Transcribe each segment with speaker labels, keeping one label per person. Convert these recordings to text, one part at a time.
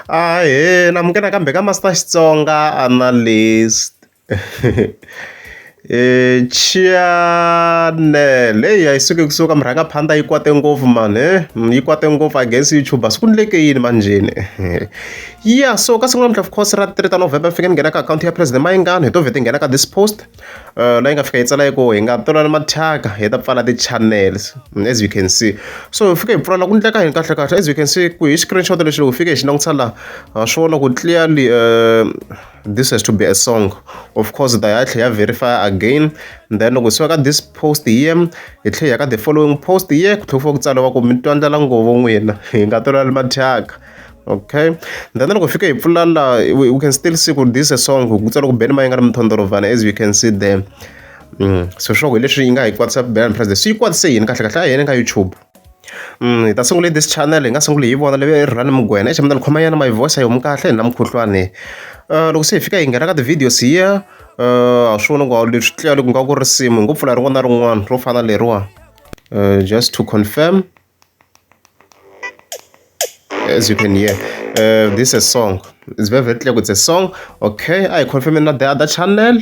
Speaker 1: Ahee na munghena nakambe ka Master Xitsonga Analyst Channel heyi a yi suki kusuka murhangaphandza yi kwate ngopfu mani he hmm, yi kwate ngopfu I guess YouTube swi ku ndleke yini manjheni ya so ka siku namuntlha of course ra 3 ta November fike ni nghena ka akhawunti ya President Mayingani hi to vheta hi nghena ka this post la yi nga fika yi tsala yi ku hi nga twanana mathyaka hi ta pfala ti-channels as you can see so hi fike hi pfula la ku endleka yini kahlekahle as you can see ku hi screenshot lexi loko hi fike hi xi langutisa laha ha swi vona ku clearly um this has to be a song of course hi ta hi ya tlhela ya verify again then loko hi suka ka this post hi ye hi tlhela hi ya ka the following post hi ye ku tlhela ku fika ku tsariwa ku mi twa ndlala nghovo n'wina hi nga twanana mathyaka Okay then loko hi fika hi pfula la we can still see ku this a song ku tsala ku beni ma yi nga ri mithondorovana as you can see there mm. so sure hi leswi yi nga hi kwatisa bela mphrazi swi yi kwatise yini kahle kahle a yena ka youtube mm, hi ta sungule this channel hi nga sunguli hi vona leyi rhani mugwena examina ni khoma yana my voice a yi homi kahle na mukhuhlwani uh, loko se hi fika hi nghena ka ti-videos hiya uh, a swi vona ku leswi tlela loko nga ku risimu hi ngo pfula rin'wana na rin'wana ro fana leriwa uh, just to confirm As you can hear this is a song it's very very clear ku it's a song okay a hi confirm-eni na the other channel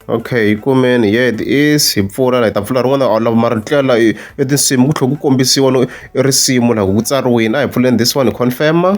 Speaker 1: okay yi kumeni yeah it is hi pfula la hi ta pfula rin'wana a lava mara tlela la i tinsimu ku tlhela ku kombisiwa no i risimu la ku tsariwini a hi pfuleni this one hi confirm-a.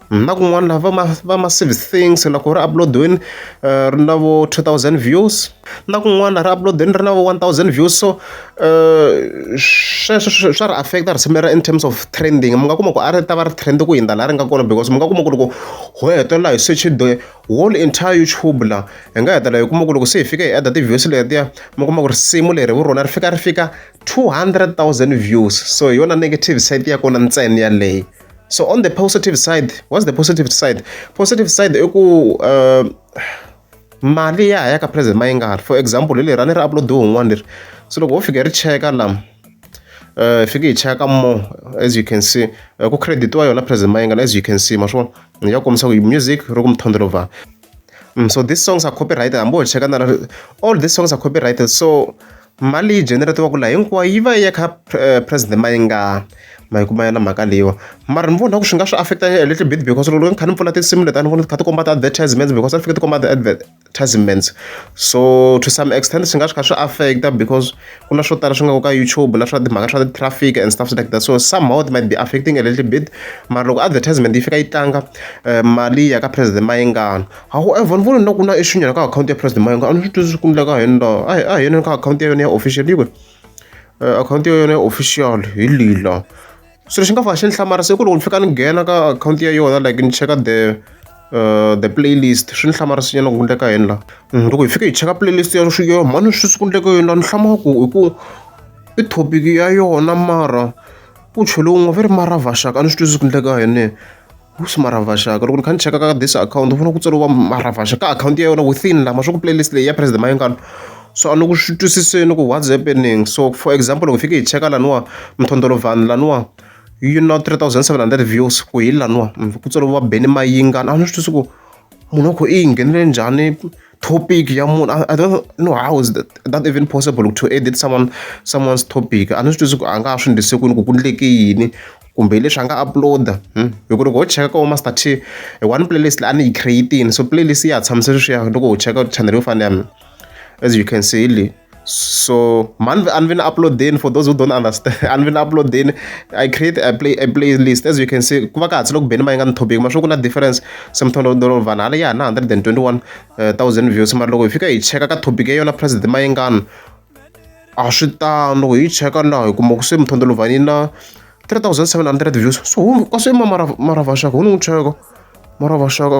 Speaker 1: na kun'wana laha va ma va ma service things loko ri upload-iwini ri na vo two thousand views na kun'wana ri upload-ini ri na vo one thousand views so sweswo swi swa ri affect-a risimu leriya in terms of trending mi nga kuma ku a ri ta va ri trend ku hundza laha ri nga kona because mi nga kuma ku loko ho hetelela hi search the whole entire YouTube la hi nga hetelela hi kuma ku loko se hi fika hi add-a ti-views letiya mi kuma ku risimu leri vu rona ri fika ri fika two hundred thousand views so hi yona negative side ya kona ntsena yaleyo. so on the positive side what's the positive side positive side i ku uh, mali ya ya ka president mayingari for example hi leri a ni ri uploadiwe un'wana leri so loko wo fika hi ri cheka lama uh, fike hi cheka more as you can see uh, ku creditiwa yona president mayingari as you can see ma swi vona ya kombisa ku music ri ku mithondolova Mm, so these songs are copyrighted hambi ho cheka na all these songs are copyrighted so mali yi generatiwaka laha hinkwayo yi va yi ya kha eh, president mayingani ma yi kuma yona mhaka leyiwa mara ni vona ku swi nga swi affecta a little bit because loko ni kha ni pfula tinsimu leti a ni vona ti kha ti komba ti-advertisements because a ti fike ti komba ti-advertisements so to some extent swi nga swi kha swi affecta because ku na swo tala swi nga ku ka YouTube na swa timhaka swa ti-traffic and stuff like that so somehow it might be affecting a little bit mara loko advertisement yi fika yi tlanga eh, mali ya ka president mayengana however ni vona na ku na iswinyana ka akhawunti ya president mayengana a ni swi twisisi ku endleka hi yona a hi yona ka akhawunti ya yona ya official yi kwe eh, akhawunti ya yona ya official hi lila Swilo swi nga fika xi ni hlamarisa i ku loko ni fika ni nghena ka akhawunti ya yona like ni cheka the uh, the playlist swi ni hlamarisinyana ku endleka yini la mm, loko hi fike hi cheka playlist ya swiyo mhani swi swi ku endleka yini la ni hlamaka ku hi ku i thopiki ya yona mara ku cheliwe un'we va ri mara vaxaka a ni swi twisisi ku endleka yini Wuxi Maravasha loko ni kha ni cheka ka this akhawunti ni vona ku tsariwa Maravasha ka akhawunti ya yona within la ma swa ku play list leyi ya President Mayengani so a ni ku swi twisiseni ku what's happening so for example loko hi fike hi cheka laniwa Mthondolo Van laniwa yi na three thousand seven hundred views ku hi laniwa ku tsariwa Benny Mayengani a ni swi twisisi ku munhu wa ku i yi nghenele njhani. topic ya munhu i don't know how is that, that even possible to edit someone someone's topic a ni swi twisi ku a nga ha swi ndlise kwini ku ku ndleke yini kumbe leswi a nga uploada hmm? hi ku loko ho cheka ka vo master t one playlist leyi a ni yi creatini so playlist ya ha tshamise sweswiya loko ho cheka channel yo fana ya mina as you can see le so man a ni vi na upload-eni for those who don't understand a ni vi na upload-eni i create a play a playlist as you can see ku va ka hatsi loko beni ma yi nga ni thobeki ma swi ku na difference se muthondo vanhu hala ya ha na hundred and twenty one eh, thousand views mara loko hi fika hi cheka ka topic ya yona president ma yi ngani a swi tano loko hi cheka laha hi kuma ku se muthondo lovhani na 3700 views so ka swi ma mara mara vaxaka wu ni n'wi cheka mara vaxaka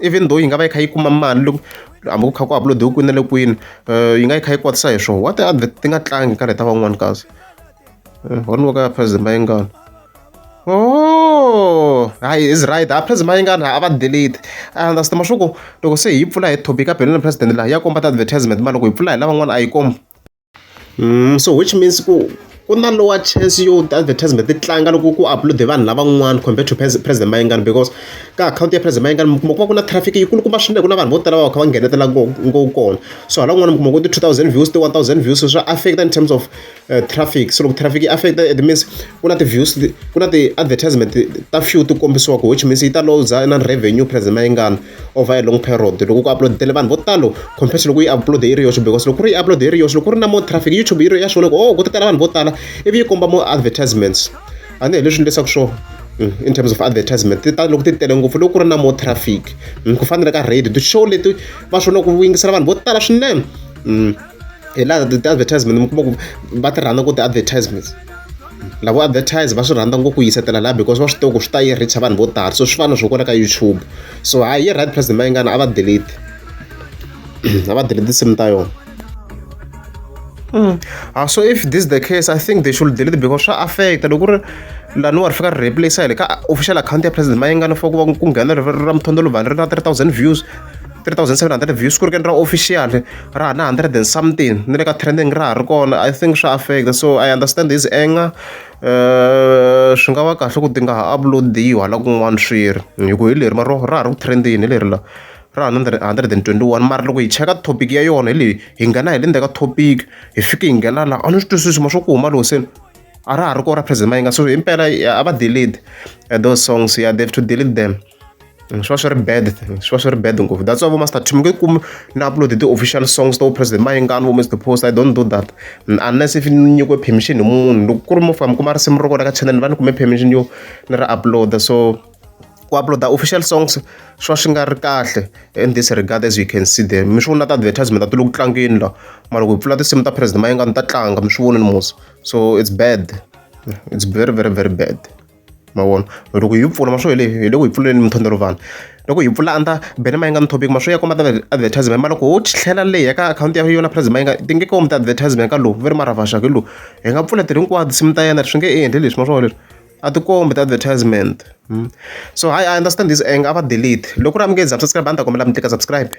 Speaker 1: even though yi nga va yi kha yi kuma mali loko hambi ku kha ku uploadiwe kwini na le kwini um yi nga yi kha yi kwatisa hi swona wa ti advert ti nga tlangi ka leta van'wani kasi one wa ka ya president mayingana o oh, hayi is right a president mayingana a va delete a understand mashuku loko se hi yi pfula hi topic a belo na president laha ya komba ti-advertisement ma loko hi pfula hi lavan'wana a yi komba so which means ku ku na lower chance yo ti-advertisement ti tlanga loko ku upload-e vanhu lavan'wana compared to President Mayengani because ka akhawunti ya President Mayengani mi kuma ku va ku na traffic yi kulukumba swinene ku na vanhu vo tala va va kha va nghenetela ngopfu kona so hala kun'wana mi kuma ku ti-two thousand views ti-one thousand views swa affect-a in terms of traffic so loko traffic yi affect-a it means ku na ti-views ku na ti-advertisement ta few ti kombisiwaka which means yi ta looser na revenue President Mayengani. over a long period loko ku uploadele vanhu vo talo compared to loko yi upload yi ri yoxe because loko ku ri yi upload yi ri yoxe loko ku ri na more traffic youtube yi ri ya swi vona ku oh ku ta tala vanhu vo tala ivi yi komba more advertisements a ni hi leswi leswaku swo mm, in terms of advertisement ti ta loko ti tele ngopfu loko ku ri na more traffic mm, ku fanele ka radio ti-show leti va swi vona ku yingisela vanhu vo tala swinene mm, hi laha ti-advertisement mi kuma ku va ti rhandza ku ti-advertisements lavo advertise va swi rhandza ngopfu ku yisetela laha because va swi tiva ku swi ta yi reach vanhu vo tala so swi fana swo kona ka youtube so hayi yi right president mayingana a va delete a va delete tinsimu ta yona Mm. Uh, so if this is the case i think they should delete because swa affecta loko ri laniwa ri fika ri replace hi le ka official account ya president mayingana for ku va ku nghena ra muthondolo vanhu ri na 3000 views 3700 views ku ri ke ni ra official ra ha na hundred and something ni le ka trending ra ha ri kona I think swa affect so I understand his anger swi nga va kahle ku ti nga ha upload-iwi hala kun'wana swi ri hi ku hi leri mara ra ha ri ku trend-ini hi leri la ra hundred hundred and twenty one mara loko hi cheka topic ya yona hi leyi hi nghena hi le ndzhaku ka topic hi fike hi nghena laha a ni swi twisisi ma swa ku huma loko se a ra ha ri kona ra phazima yi nga so himpela a va delete those songs ya they have to delete them. swi va swi ri bad swi va swi ri bad ngopfu that's why vo master team nge kumi na upload ti-official songs to president mayingani vo mr post i don't do that unless if ni nyikiwe permission hi munhu loko ku ri mo fika mi kuma risimu ro kona ka channel ni va ni kume permission yo ni ri upload so ku upload official songs swi va swi nga ri kahle in this regard as you can see there mi swi vona ta advertisement ti le ku tlangeni la mara ku pfula tinsimu ta president mayingani ta tlanga mi swi vona ni musa so it's bad it's very very very bad ma vona loko hi pfula ma swo hi le hi le ku hi pfuleni mintlhontlho vanhu loko hi pfula under banner ma yi nga ni topic ma swi ya kuma ta advertisement ma loko ho tlhela le ya ka akhawunti ya yona price ma yi nga ti nge komi ti advertisement ka lowu va ri mara vaxaka hi lowu hi nga pfula tiri hinkwato nsimu ta yena swi nge endli leswi ma swi vona leswi a ti kombi ti advertisement so hayi I understand this anger a va delete loko ku ri a mi nge subscribe a ni ta kombela mi tlika subscribe.